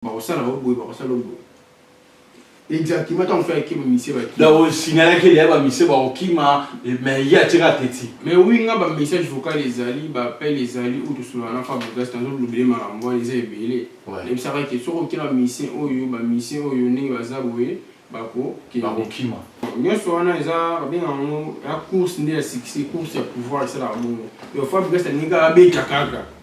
Bakosala yo boye, bakosala yo boye. Exactement, tant faire que monsieur va kima. Donc, signaler que les ba monsieur va kima, mais il y a tira teti. Mais oui, nga ba message vocal les ali, ba appel les ali ou tout cela na fa bogas tanzo l'oublier ma rambo les est belé. Et ça va que sur aucun monsieur oyo, ba monsieur oyo ni ba zaboye, ba ko ki ba ko kima. Nyoso wana eza ba bien en la course ni la succès, course ya pouvoir c'est la bongo. Yo fa bogas ni ka beta kaka.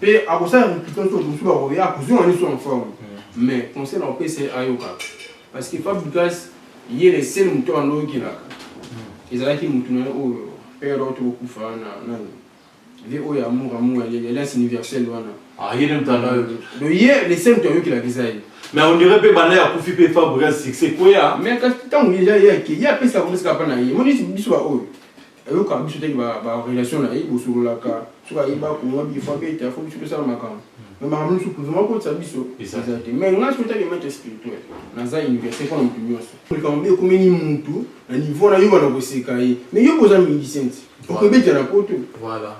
Pe akosala mikito to busu ba koya kozonga niso en forme. Mm. Mais conseil na opesa ayoka. Parce que Fab Lucas ye le seul moto andoki la. Mm. Ezalaki moto na oyo père to kufa na nani. Vie oyo amour amour ya l'alliance universelle wana. Ah ye ndio mtanda yo. Donc ye le seul moto ayoki la kisa ye. Mais on dirait pe bana ya kufi pe Fab Lucas succès koya. Mais kasi tangu ye ya ye ya pesa komisa pa na ye. Moni biso ba oyo. ayokaka biso te ba ba relation na ye bosololaka soki ayeba kongo bi faut abeta il faut biso tosala makambo mais makambo nyonso kuzuma kotisa biso eza te mais ngai soki otali maître spirituel naza université mpo na moto nyonso likambo mpe ekomeli motu na niveau na yo bana koseka ye mais yo boza musicien ti okobeta na poto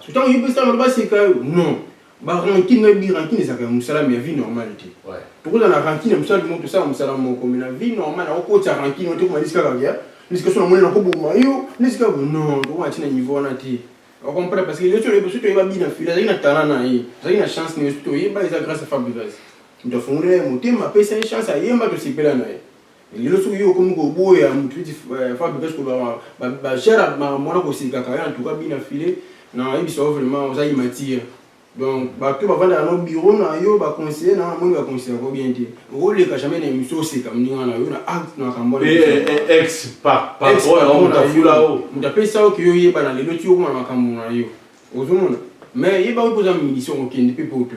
ntango yo mpe sala baseka yo non Ba rancune na bi rancune ezalaka ya musala mais ya vie normale te. Ouais. Tokoza na rancune ya musala bimo tosala musala moko mais na vie normale na kokotisa rancune oyo te koma lisika kaka ya lisika sona moni na koboma yo lisika ko non toko na tina niveau wana te. Au contraire parce que yo sio yo sio yeba bi na fila zaki na talent na ye. Zaki na chance ni sio yeba eza grâce à Fabregas. Ndofungulela ye motema pesa ye chance ayemba tosepela na ye. lelo soki yo okomi koboya motu neti eh, fabi parce que bashara makambo wana kosekaka ya antuka bina file na yebisa yo vraiment oza imatiya donc bato bavandaka no biro na yo baconseille na moni baconseille yango bien te okoleka jamais na émission oseka moninga na yo na acte na makambo moto apesa yo ke yo oyeba na lelo ti okoma na makambo na yo ozomona mais yeba oyo mpoza musicien okende mpe poto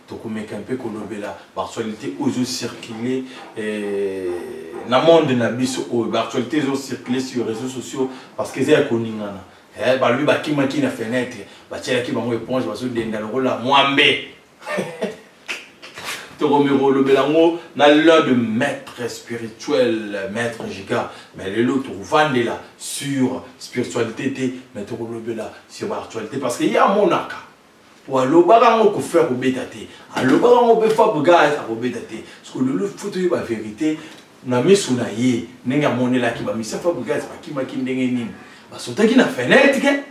tokomeka mpe kolobela baactualité oyo ezo circule eh, na monde na biso oyo baactualité ezo circule sur réseaux sociaux parce que eza ya koningana eh, balobi bakimaki na fenêtre batielaki bango éponge bazodenda lokola mwambe tokomeka kolobela yango na l'un de maître spirituel maître jika mais lelo tokovandela sur spiritualité te mais tokolobela sur baactualité parce que ye amonaka po alobaka ngo kofi akobeta te alobaka ngo pe fab gaz akobeta te siko lelo fo toyeba verite na misu na ye ndenge amonelaki ba misia fab gaz bakimaki ndenge nini basotaki na fenêtre ke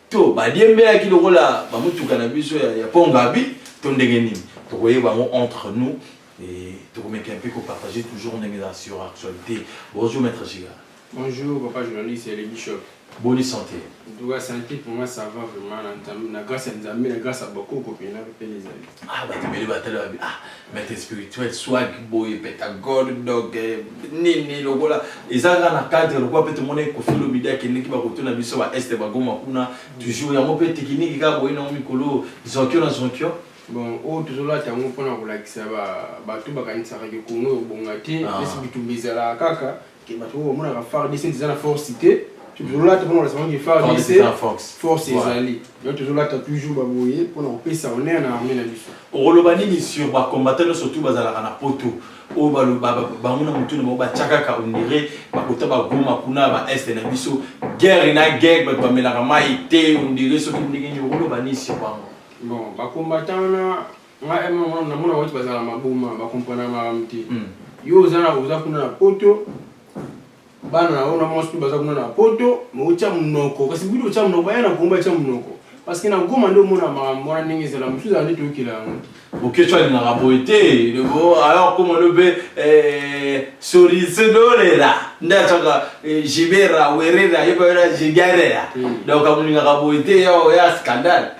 to badiembelaki lokola bamutuka na biso ya, ya pongabi to ndenge nini tokoyeba ngo entre nous et tokomeka mpe kopartage toujours ndenge eza sur actualité bonjour maître giga Bonjour papa journaliste ya le bishop. Boni sante? En tout cas sante pour moi ça va vraiment na nzambe na grâce ya nzambe na grâce ya bakoko mpe na mpe ezali. Ah bato ebele batala babi ah maître spirituel swag boye pentagone donc eh, nini lokola eza kaka na cadre lokola mpe tomona ekofi lobidi akendeki bakotuna biso ba este bagoma kuna toujours yango mpe tekiniki kaka boye nango mikolo zonkio na zonkio bon oyo tozolata yango mpona kolakisa bato bakanisaka ke kongo ebonga te Ah. esi bitumba ezalaka kaka ke bato oyo bamonaka fardc eza na force te tozolata mpona olasamaki fardc force ezali donc tozolata toujours baboye mpona kopesa honneur na armée na biso okoloba nini sur bacombatant nyonso tu bazalaka na poto oyo bango na motu na bango batya kaka ondire bakota bagoma kuna ba este na biso guerre na guerre bato bamelaka mai te ondire soki ndenge nini okoloba nini sur bango bon bacombatant wana Nga eh maman na mona watu bazala maboma ba comprendre makambo te yo oza na oza kuna na poto bana na yo na mwasi baza kuna na poto mais otya monoko kasi budi otya monoko baya na kongo batya monoko parce que na goma nde omona makambo wana ndenge ezala mosusu ezala nde toyokela yango te boketsho alingaka boye te alors koma lobe eh, sorisedorera nde ataka eh, jibera werera yebaera jigarera hmm. donc amolingaka boye te ya scandale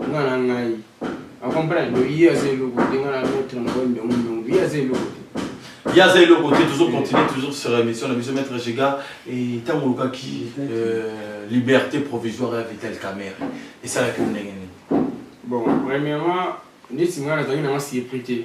Nga na ngai. A comprendre? Donc ye aza eloko te, nga na maître na ngai mbiongo mbiongo. Ye aza eloko te. Ye aza eloko te, tozo continuer toujours sur émission na biso maître Jega et tango olukaki euh, liberté provisoire ya Vital Kamerhe. Esalaki yo ndenge nini? Bon, premièrement, neti nga nazalaki na nga surpris te.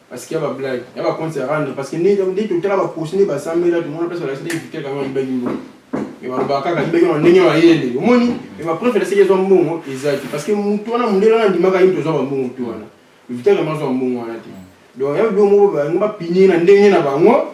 Parce qu'il y a ba blague, il y a ba compte à rendre parce que ni donc dit tout là ba poste ni ba samela tout le monde passe la série du tel comme ben mbo. Et ba ba kaka mbe on nenyo ba yele. Omoni et ba preuve la série zo mbongo exact parce que mutu wana mundela na ndimaka yinto zo ba mbongo tu wana. Vita kama zo mbongo wana te. Donc ya bo mo ba ngo ba pini na ndenge na bango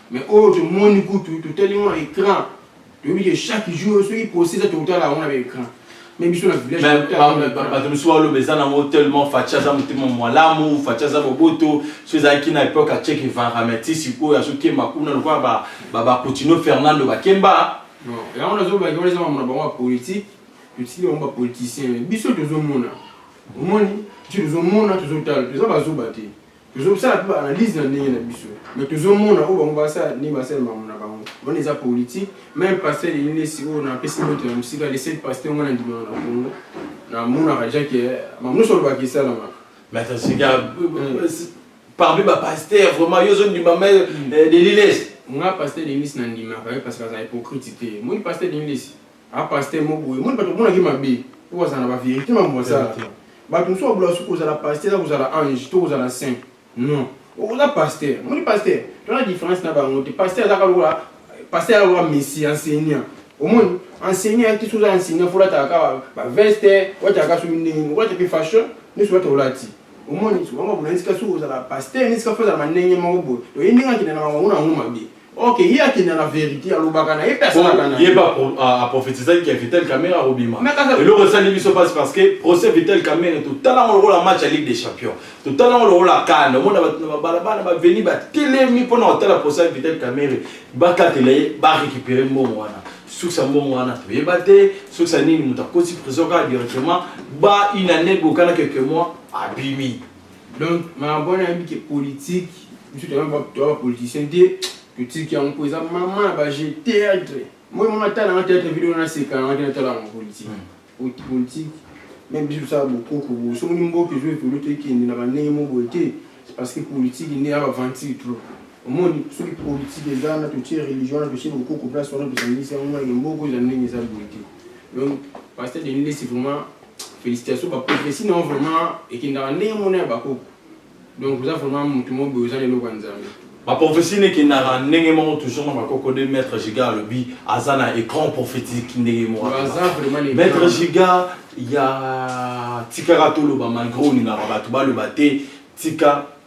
Mais oyo to moni kutu to tali mona écran. To bi que chaque jour soki procès za to tala mona écran. Mais biso na village mais to tala. Mais ba to biso wa lo bezana ngo tellement facha za mutema mwalamu facha za boboto so za ki na époque a check vara mais ti siko ya so kemba kuna lokwa ba ba ba Coutinho Fernando ba kemba. Non, ya ona zo ba ngoleza mona ba mwa politique. To ti ba mwa politicien. Biso to zo mona. Omoni? Biso to zo mona to zo tala. To za ba zo ba te. tozosala mpe baanalyse na ndenge na biso me tozomona oyo bango basala ndenge basala makambo na bango wana eza politike meme pasteur elilesi oyo napesi moto ya mosika le seul pasteur ngo na ndimaka na kongo namonaka deja ke makambo nyonso olobaka esalamaka mais atosika parmi bapasteur vraiment yo ozondima me delilesi nga pasteur delilesi nandimaka ye parce que aza hypocrite te moni pasteur delilesi Ah pasteur moko boye moni bato omonaki mabe po bazala na ba verité mambo basala bato mosusu babola soki kozala pasteur na kozala ange to kozala saint non oza pasteur omoni pasteur tona différence na bango te pasteur azaka lokola pasteur azaka lokola messi enseignant omoni enseignant yaki soki oza enseignant fo olataka kaka baveste olataka soki ndenge nini okolata mpe fashion nyonso olata olati omoni soki bango babola esika soki ozala pasteur na esika fo ozala bandenge moko boye toye ndenge akenda na bango na yango mabe Ok, ye akenda na verite alobaka na ye mpe asalaka na ye mpe aprofetisaki ke vital camera akobima eloko esali biso mpasi parce que procès vital camera totala yango lokola match ya ligue des champions totala yango lokola kane omona bato na babalabala baveni batelemi mpo na kotala procès ya vital camera bakatela ye barécupere mbongo wana soki ya mbongo wana toyeba te soki ya nini moto akoti prison kaka directement ba une année bokana quelques mois abimi donc makambo wana nayebi ke politique biso toza ba politicien te totiki yango mpo eza mama ya baje théâtre moi mama tala nga théâtre video naseka nga te natala yango politique hmm. politique meme biso tosala bokoko boye soki ni mboka ezo evolu tokende na bandenge mo boye te c'est parce que politique nde ya baventure trop omoni soki politique eza na totie religion wana totie bokoko place wana tosangisi yango na mboka eza ndenge eza boye te donc pasteur denilesi vraiment Félicitations ba prophétie na vraiment ekendaka ndenge mona ya bakoko. Donc oza vraiment mutu moko boye oza na eloko ya Nzambe. Ba prophétie nekendaka ndenge moko toujours na bakoko de maître Giga alobi aza na écran prophétique ndenge moko. Aza vraiment les Maître grands. Giga ya tikaka toloba malgré olingaka bato baloba te tika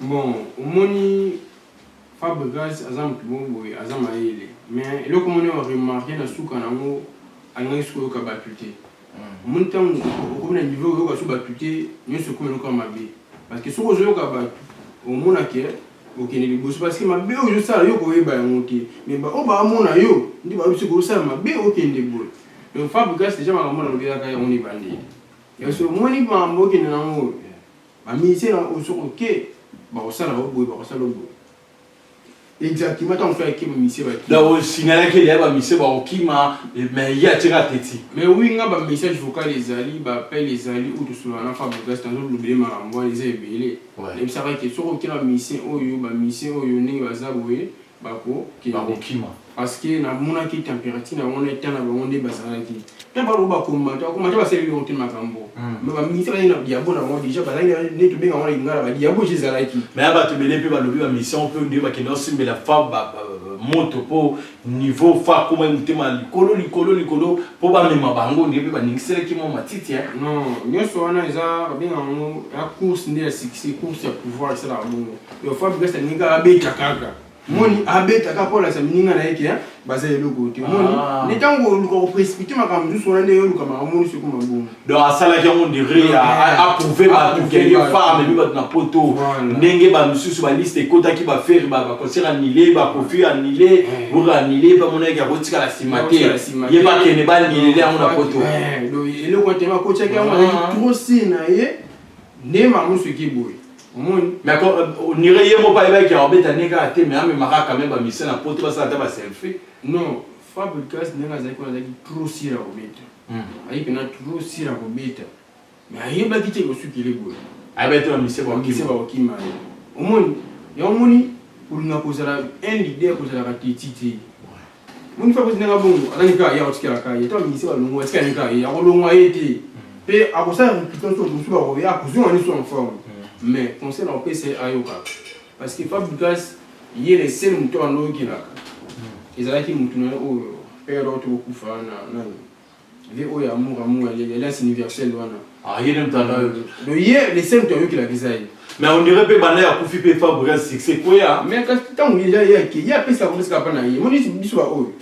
Bon omoni Fabregas aza mutu moko boye aza mayele mais eloko moko nayo remarque na suka na ngo alingaki su koyoka batu te omoni tangu okomi na niveau oyoka su batu te nionso ekomi eloko ya mabe parce que soki ozoyoka batu omona que okende liboso parce que mabe oyo ozosala yo okoyeba yango te mais ba oyo baamona yo nde bayebi soki ozosala mabe okende boye donc Fabregas dejà makambo oyo nalobi ezalaka yango na ebandeli yanso omoni makambo okende na ngo Ba musiciens na ozo oke bakosala yo boye bakosala yo boye exactement ntango fela akima misie baki donc osignalaki elia ba misie bakokima mais ye atie kaka teti mais oui nga ba message vocal ezali ba appel ezali oyo tosolola na fabrigas nazolobele makambo wana eza ebele nayebisaka ke soki okela misie oyo ba misie oyo ndenge baza boye bako kende bakokima parce que na monaki temperature na wana eta na bango nde bazalaki ta balo ba komata ba komata ba seli yo te makambo hmm. mais ba ministre na diabo na wana déjà bazali ne to benga wana ingala ba diabo je zalaki mais aba to bele pe ba lobi ba mission pe ndio ba kenda simbela fa ba moto po niveau fa koma mutema likolo likolo likolo po ba mema bango ndio pe ba ningisela ki mo matiti hein non nyoso wana eza ba benga ngo la course nde ya succès course ya pouvoir c'est la bongo Yo Fabio Kasa ni kaka beta kaka. Moni abeta kaka mpo alakisa mininga na ye ke baza eloko te. Moni ah. ni ntango oluka koprecipite makambo mosusu wana nde yoluka makambo mosusu ekoma bongo. Donc asalaki yango ndire approuve bato ke ye fa amemi bato na poto ndenge bamosusu baliste ekotaki bafere baconcert annule bakofi annule boke annule bamonaki akotikala nsima te ye bakende banilele yango na poto. Eloko te bakotiaki yango ah. trop si na ye nde makambo mosusu ekeboye. omoni mais onire ye moko ayebaki ya obeta ndenge kaka te mais amemaka kame bamisien na poto basala ata baselfie non fabricas ndenge azalaki wana azalaki trop sira kobeta hmm. ayi mpena trop sira kobeta mais ayebaki te kosukile boye ayebaki te bamisien bakokima ye omoni yango omoni olinga kozala un leader kozalaka teti te moni fa koti nanga bongo aza nika ye akotikela ka ye to amingisi balongwa atika nika ye akolongwa ye te mpe akosala repitance to bosu bakoya akozonga niso en forme mais conseil na kopesa ye ayokaka parce que fabrigas ye le sel moto oyo andoyokelaka ezalaki motu na ye oyo père oyo tokokufa na nani vie oyo amour amour ya leli alliance universelle wana ah ye nde mtanda oyo do ye le seul to ayokela visa ye mais on dirait pe bana ya kufi pe fa brin succès koya mais kasi tango ye ya ya ki ya pesa ko pesa pa na ye moni biso ba oyo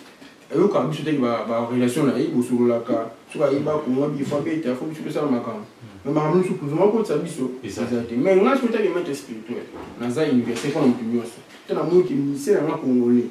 ayoka biso te ba ba relation na ye bosololaka soki ayeba kongo bi fa pe ta fo biso pesa makambo mais makambo nyonso kuzuma ko tsa biso eza te mais ngai soki ta ke maître spirituel naza université ko na mutu nyonso tana moyi ke ministère na congolais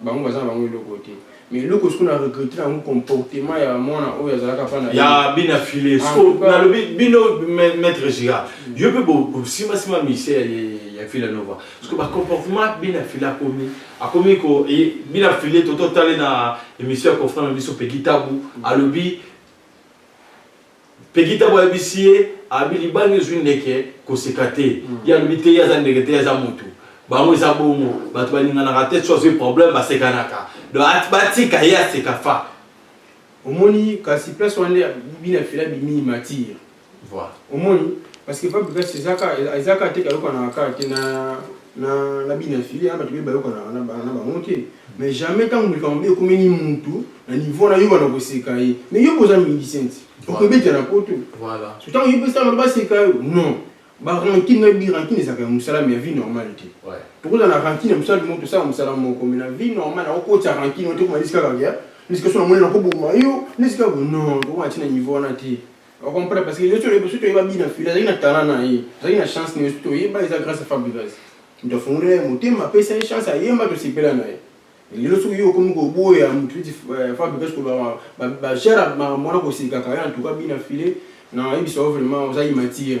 bango baza na bango eloko te mais eloko siko na regrete na yango comportement ya mwana oyo azalaka pa na ya bina file ah, siko nalobi bino maître gira mm. yo mpe bosimbasima mise ya fila nova siko bacomportement bina file akomi akomi ko e, bina file tototale na émission ya confrant na biso peki tabu mm. alobi Peggy Tabu ayebisi ye abi libanga ezwi ndeke koseka te ye alobi te ye aza ndeke te ye aza mutu bango eza bongo batu balinganaka te soki azwi problème basekanaka donc batika ye aseka fa Omoni kasi place wana nde bino ya fela bimi matiir voilà omoni parce que fabrigas eza ka eza ka te kayokanaka ka te na na na bino ya fila na batu baye bayokanaka na bango te Mais jamais tango likambo be ekomeli mutu na niveau na yo bana koseka ye. Mais yo boza musicien ti. Okobeta na poto. Voilà. So tango yo pesa ba seka yo. Non. Ba rancune na bi rancune ezaka ya musala mais ya vie normale te. Ouais. Toko za na rancune ya musala bimo tosala musala moko mais na vie normale na ko tia rancune ote ko malisi kaka ya. Nisika so na moni na ko boma yo. Nisika non. Toko na tina niveau wana te. Au comprendre parce que yo solo biso toyeba bina fila azali na talent na ye azali na chance na ye biso toyeba eza grâce à fabrigas moto afungoli ye motema apesa ye chance ayemba tosepela na ye lelo soki yo okomi koboya moto eti euh, fabrigas koloba bajara makambo wana kosekaka ye en tout cas bina file nayebisa yo vraiment oza immatire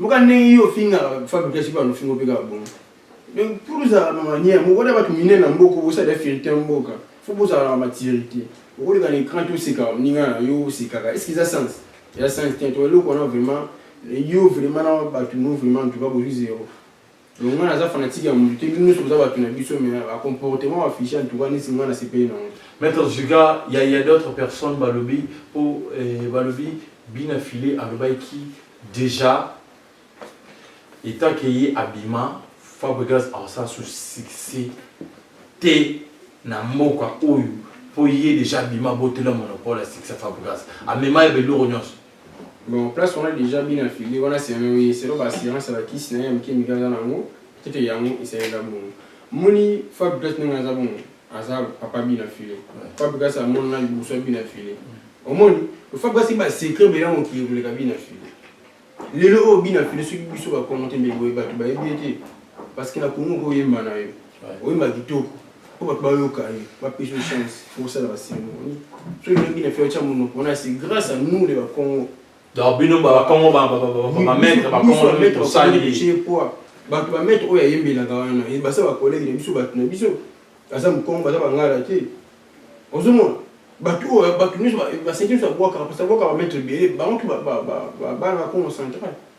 Yoka ndenge yo ofingaka Fabio Classic wana ofinga mpe kaka bongo. Donc pour ozalaka na manière moko na bato minene na mboka bosala fierté ya mboka faut bozalaka na maturité. Okoleka na écran te oseka moninga na yo osekaka est-ce que eza sens? Eza sens te to eloko wana vraiment yo vraiment na bato no vraiment en tout cas bozwi zero. longa naza fanatique ya mutu te bino nyonso boza bato na biso mais a comportement ba fiche en tout cas nisi nga na sepeli nango maître zuga ya ya d'autres personnes balobi po eh, balobi bina filet alobaki déjà etant que ye abima fabregas aosala su succès te na mboka oyo po ye déjà abima botela monopole ya succès fabregas amema ye beloko nyonso Bon, place wana deja bien affilié, wana c'est un oui, c'est ba assurance la kisi na ya mike mika za nango, tete yango esenga bongo. Moni Fab Glass ndenge aza bongo, aza papa bien affilié. Fab Glass a mona liboso bien affilié. Omoni, Fab Glass ba secret bela mo ki ebule ka bien affilié. Lelo o bien affilié soki biso ba commenter mais boye ba ba ebete parce que na Congo ko yemba na yo. Oyemba kitoko po bato bayoka yo, bapesa yo chance osala ba ceremonie. Soki oyoki na fiacha monoko wana c'est grace à nous les bakongo. Donc bino ba bakongo ba ba maître bakongo nde tosali. Bato ba maître oyo ayembelaka wana basa ba collègue na biso bato na biso aza mokongo baza bangala te. Ozomona bato oyo bato nyonso baseki nyonso babwakaka parce que babwakaka ba maître ebele bango mpe bana bakongo central.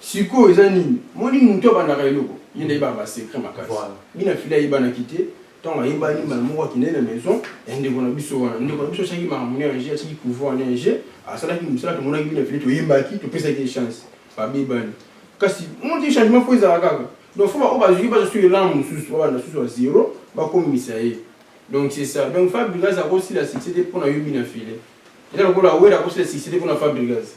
Sikoyo eza nini moni mutu abandaka eloko ye nde ayebaka ba secret makasi bina fille ayebanaki te tango ayebani mbala moko akendaki na maison ya ndeko na biso wana ndeko na biso asalaki makambo na enje asalaki pouvoir na enje asalaki mosala tomonaki bina fille toyembaki topesaki ye chance babebani kasi moni changement fo ezala kaka donc fo baoyo bazuki baza su elan mosusu babanda susu ya zero bakomisa ye donc c'est ça donc fabrigas akosila succès te mpo na yo bina fille eza lokola wera akosila succès te mpo na fabrigas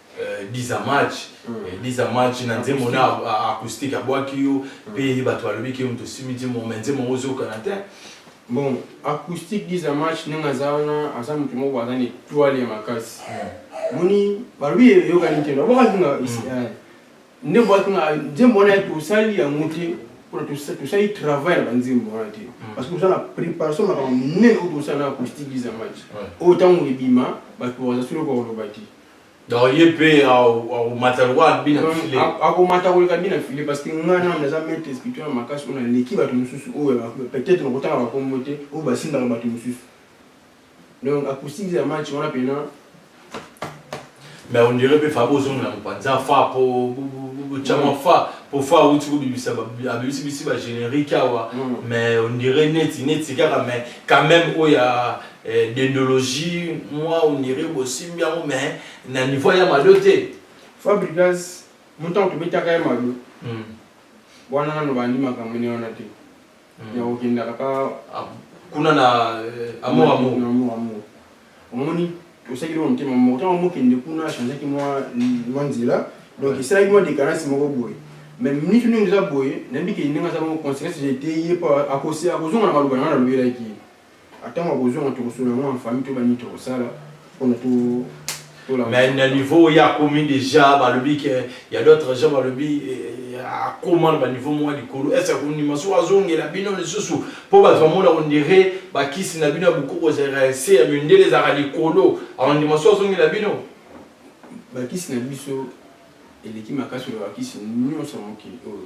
10 ans match 10 ans match na nzembo na acoustique abwaki yo mpe bato balobi ke moto osimbi nzembo me nzembo yango ozokana te bon acoustique 10 ans match ndenge aza wana aza moto moko aza na etoile ya makasi moni balobi eyokani te nabwakaki nga nde bwaki nga nzembo wana ya tosali yango te mpona tosali travail na banzembo wana te parce que oza na préparation makambo monene oyo tosala na acoustique 10 ans match oyo ntango ebima bato baza solo bakoloba te Donc ye pe akomata lokola bina filet. Akomata koleka bina filet parce que nga na naza maître spirituel makasi oyo naleki bato mosusu oyo peut-être nakotanga bakombo te oyo basindaka bato mosusu. Donc acoustique ya match wana pena mais on dirait pe Fabo ozongela mopanza fa po chama fa po fa auti kobimisa abimisi bisi ba générique awa mais on dirait neti neti kaka mais quand même oyo ya Eh, dendologie moi on dirait bosimbi yango mais na niveau ya mado te fabrigas motango tobetaka ya mado hmm. wana nano bandi makambo ne wana te hmm. yakokendaka ka ah, kuna na eh, amour amour amour amour omoni osaki loko motema moko ntango mokende kuna achangeaki mwa nzela donc esalaki mwa decarance moko boye mais minute ndenge eza boye nayebi ke ndenge aza moko conséquence jete ye mpo akozonga na maloba nanga nalobelaki ye Atango akozua yango tokosuna yango en famille toyeba nini tokosala pona to mais na niveau oyo akomi déjà balobi ke ya d'autres gens balobi eh, akoma na baniveau moko ya likolo ese akondima soki azongela bino lisusu mpo bato bamona ondire bakisi na bino ya bokoko ezalaka ese ya mindele ezalaka likolo akondima soki azongela bino bakisi na biso eleki makasi oyo bakisi nyonso ya mokili oyo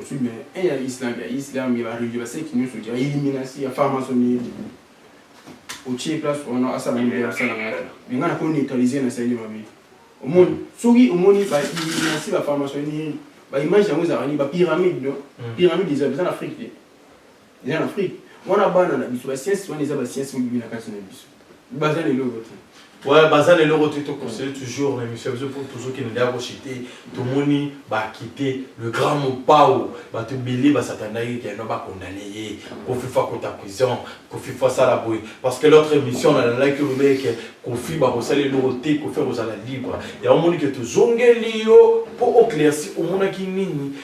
Osu me e ya Islam ya Islam ya regular seki nyonso ya eliminasi ya farmasoni otie place wana asala nini ya sala ngata mais ngana ko neutraliser na sali mabe omoni soki omoni ba eliminasi ba farmasoni ba image yango ezalaka ni ba pyramide pyramide eza na Afrique eza na afrique wana bana na biso basiensi wana eza basiensi mobibi na kati na biso baza na eloko te Ouais, baza na eloko te tokonsele toujours na émission biso mpo tozokende nde akochite tomoni bakite le grand mopao bato ebele basatandaki keno bakondane ye kofifa kota prison kofifa asala boye parce que l'autre émission nalalaki olobeke kofi bakosala eloko te kofi akozala libre yango omoni ke tozongeli yo mpo oclairci omonaki nini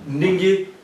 ndenge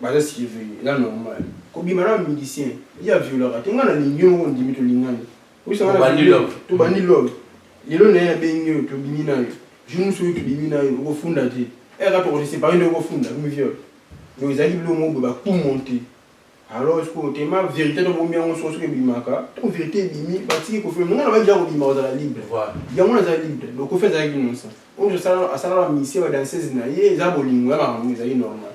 Baza sike venu eza normal kobima na musicien ye a violaka te nga na lingi yo moko ondimi tolingani oyebisa nga na viole yo tobandi love lelo naye na bengi yo tobimi nayo jour mosusu oyo tobimi nayo okofunda te eh kaka toko se separer nde okofunda hum viole donc ezalaki biloko moko boye ba coup monte alors sikoyo tema verite to bomi yango soko soki ebimaka to verite ebimi batiki kofi nga na baki ya kobima kozala libre yango naza libre donc kofi azalaki nosa oyo asala asala ba musicien ba danseuse na ye eza bolingo ya makambo ezali normal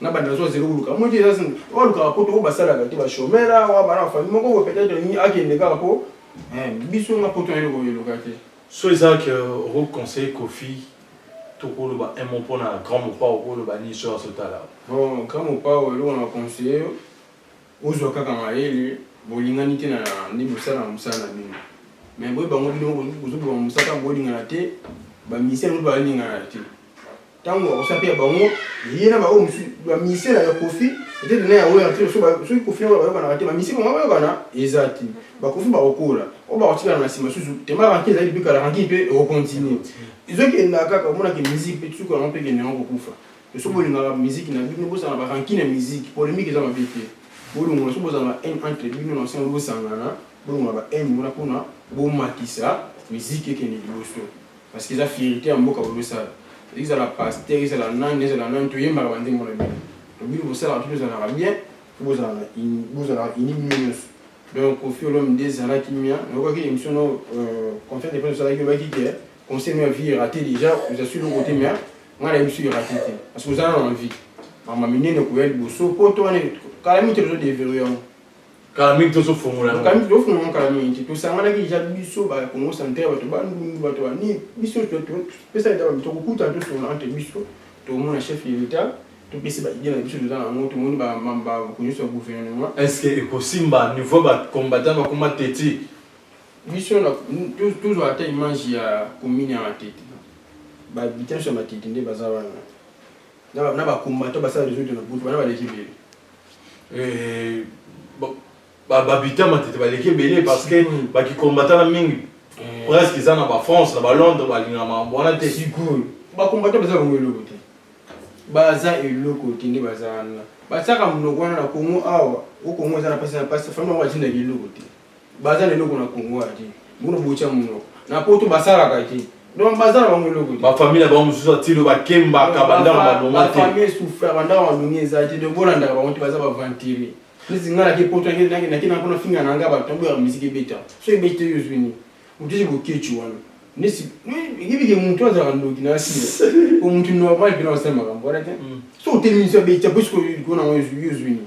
na banda azwa zero koluka yango te eza oyo alukaka poto oyo basalaka te bashomere awa bana bafami moko oyo peut-être akende kaka mpo eh, biso na poto nayo koyeluka te so eza ke oko conseil kofi tokoloba un mot mpo na grand mopao koloba nini so azotala bon grand mopao eloko na conseille yo ozwa kaka mayele bolingani te na nde bosala na mosala na bino mais boye bango bino bozoboma mosaka bolingana te bamisele moko balingana te ntango bakosala mpe ya bango ye na baoyo mosusu bamisie na ya kofi etete na ya oyo yango soki kofi yango bayokanaka te bamisie bango bayokana eza te bakofi bakokola oyo bakotikala na nsima susu tema ranki ezali mpe kala ranki mpe ekokontinue ezokenda kaka omonaki miziki mpe suku yango mpe kende yango kokufa eso bolingaka miziki na bino bosana baranki na miziki polemike eza mabe te bolongola so bozala na haine entre bino na nsango bosangana bolongola ba haine wana mpona bomatisa miziki ekende liboso Parce que eza fierite ya mboka bozo sala. Ezala pasteur, ezala nani, ezala nani to yembaka ba nzembo na bino. To bino bo salaka tout to zalaka bien, po bo zalaka in, bo zalaka uni bino nionso. Donc Koffi Olomide zala kimia, na yokaki emission no euh, conférence de presse osalaki olobaki que concert no ya vie erate déjà, oza sur le côté mais nga na biso erate te. Parce que oza na envie. Mama minene koya liboso, poto wana kala mingi te tozo deverrouiller yango. kala mingi tozo fongola yango kala mingi tozo fongola kala mingi nti tosanganaki deja biso ba Congo centre bato ba ndundu bato ba nini biso topesa leta bato tokokutana tosolola entre biso tomona chef de l'etat topesi ba idée na biso toza na yango tomoni babato nyonso ya gouvernement est ce que ekosimba niveau ba combattant bakoma teti biso tozwa ata image ya commune ya matete bahabitant nyonso ya matete nde baza wana na bacombattant basala resoute na butu bana baleki ebele babita matete baleki ebele parce que hmm. bakikombatana mingi eh. presque eza na bafrance na balondre balinga mambo wana te sikoyo bakombata baza bango eloko te baza eloko te nde baza wana batiaka monoko wana na kongo awa o kongo eza na mpasi na mpasi fami yango batinda eloko te baza na eloko na congo ya te bono botya monoko na poto basalaka te donc baza na bango eloko te bafamile na bango mosusu atilo bakembaka bandako malonga te bafamile souffra bandako malonga eza te donc bolandaka bango te baza baventure neti ngai nake poto nake na mpona finga na ngai bato boyaka miziki ebeta so ebeta yo ozwi nini otisi bokeci wana nesi yebike motu azalaka ndoki na asila po motu normal mpena osala makambo wana te so otelemi so abeta po sikoyo likolo na yango yo ozwi nini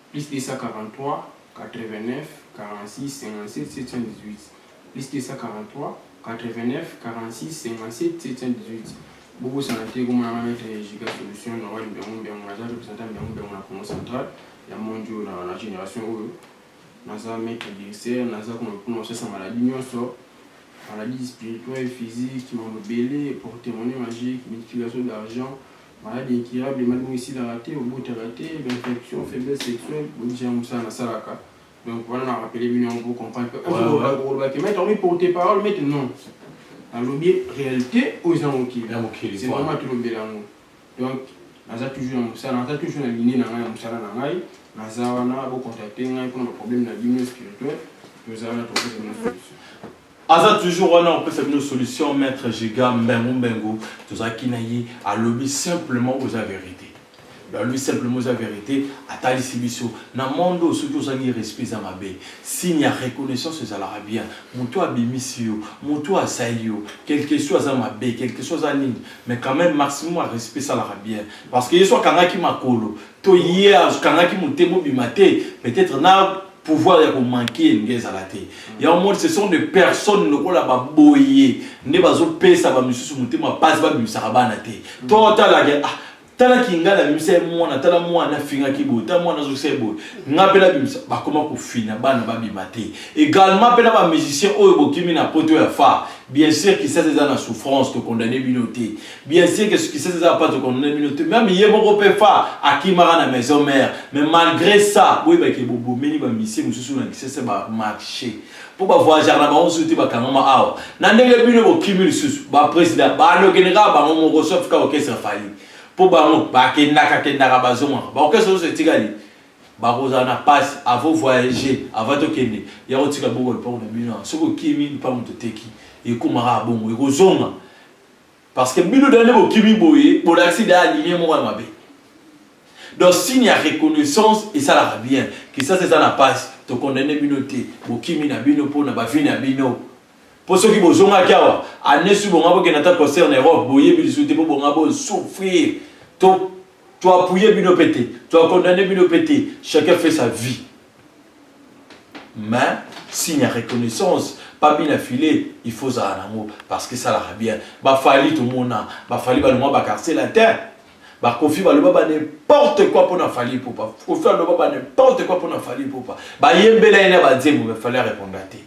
plus 243 bosana te komona nga maitre Giga solution na wani mbiangu mbiangu naza representant mbiangu mbiangu na Congo central ya monde oyo na, na generation oyo naza maitre directeur naza kuna kuna kosasa maladie nyonso maladie spirituelle physique mambo ebele portemone magique multiplication d'argent Maladi incurable maladi moko esilaka te, obotaka te, ba infection, faiblesse sexuelle, bobikisa yango mosala nasalaka. Donc wana na rappeler bino yango pour comprendre que Ouais, ouais. okoloba te maître omi porte parole maître non. Nalobi réalité oyo eza mokili. Ya mokili, C'est voilà. normal tolobela yango. Donc naza toujours na mosala, naza toujours na ligne na ngai ya mosala na ngai. Naza wana bo contacter ngai pona ba problème na bino spirituel, toza wana tokopesa bino solution. Aza toujours wana opesa bino solution maître Giga mbengu mbengu tozalaki na ye alobi simplement oza verite alobi simplement oza verite atalisi biso na monde oyo soki ozangi respect eza mabe signe ya reconnaissance ezalaka bien moto abimisi yo moto asali yo quelque soit aza mabe quelque soit aza nini mais quand même maximum ya respect esalaka bien parce que ye so akangaki makolo To ye akangaki motema obima te peut etre na pouvoir ya ko manquer elingi ezala te. Yango omoni ce sont des personnes lokola ba boye nde bazo pesa ba misusu motema pasi ba bimisaka bana te. To tala ke ah tala kingala abimisa ye mwana tala mwana afingaki boye tala mwana azokisa ye boye nga mpe nabimisa bakoma kofina bana babima te egalement mpe na ba musicien oyo bokimi na poto ya fa bien sûr kisasa eza na souffrance tokondane bino te Bien sûr que succès eza ya Patrick Onone bino te meme ye moko mpe fa akimaka na maison mère mais malgré ça boyeba ke bobomeli ba misie mosusu na Kisese ba marche mpo ba voyageaka na bango mosusu te bakangama awa na ndenge bino bokimi lisusu ba president bandokende kaka bango moko sauf ka orchestre Fally mpo bango bakendaka kendaka bazongaka ba orchestre nyonso etikali bakozala na pasi avo voyager avant tokende ya kotika boko lipango na bino soki okimi lipango toteki ekomaka abongo ekozonga Parce que bino nde bokimi boye bolakisi da ligne moko ya mabe. Donc signe ya reconnaissance esalaka bien. Kisasa eza na pasi to condamner bino te bokimi na bino mpo na ba vie na bino. Mpo soki bozongaki awa annee su bonga bokenda ata concert na Europe boyebi lisusu te mpo bonga bo souffrir to to appuyer bino mpe te to condamner bino mpe te chacun fait sa vie. mais signe ya reconnaissance pambi na filet il faut ozala nango parce que esalaka bien bafali tomona bafali balongwa bakartier latin bakofi baloba ba n'importe quoi mpo na fali popa kofi aloba ba n'importe quoi mpo na fali popa bayembela ye na banzembo me fali areponda te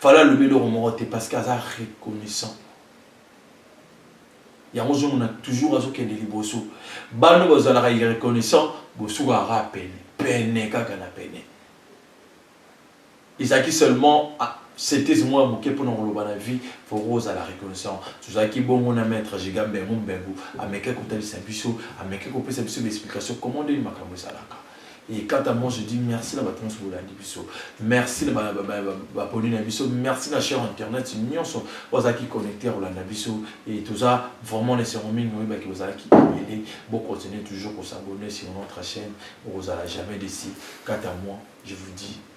fali alobi eloko moko te parce que aza reconnaissant yango ozomona toujours azokende liboso bano bazalaka irreconnaissant bosukaka kaka pene pene kaka na pene ezalaki seulement ah, setezi mwa moke mpona koloba na vie foko ozala reconnaissant tozalaki bongo na maître jiga mbengu mbengu ameke kotalisa biso ameke kopesa biso baexplication comment ndeni makambo ezalaka Et quant à moi, je dis merci na bato nyonso bolandi biso. Merci na baponi na biso. Merci na cher internet nyonso bazalaki connecter kolanda biso. Et toza vraiment na esengo mingi oyebaki bozalaki ebele. Bo continuer toujours kosabonner sur notre chaîne. Bokozala jamais déçu. Quant à moi, je vous dis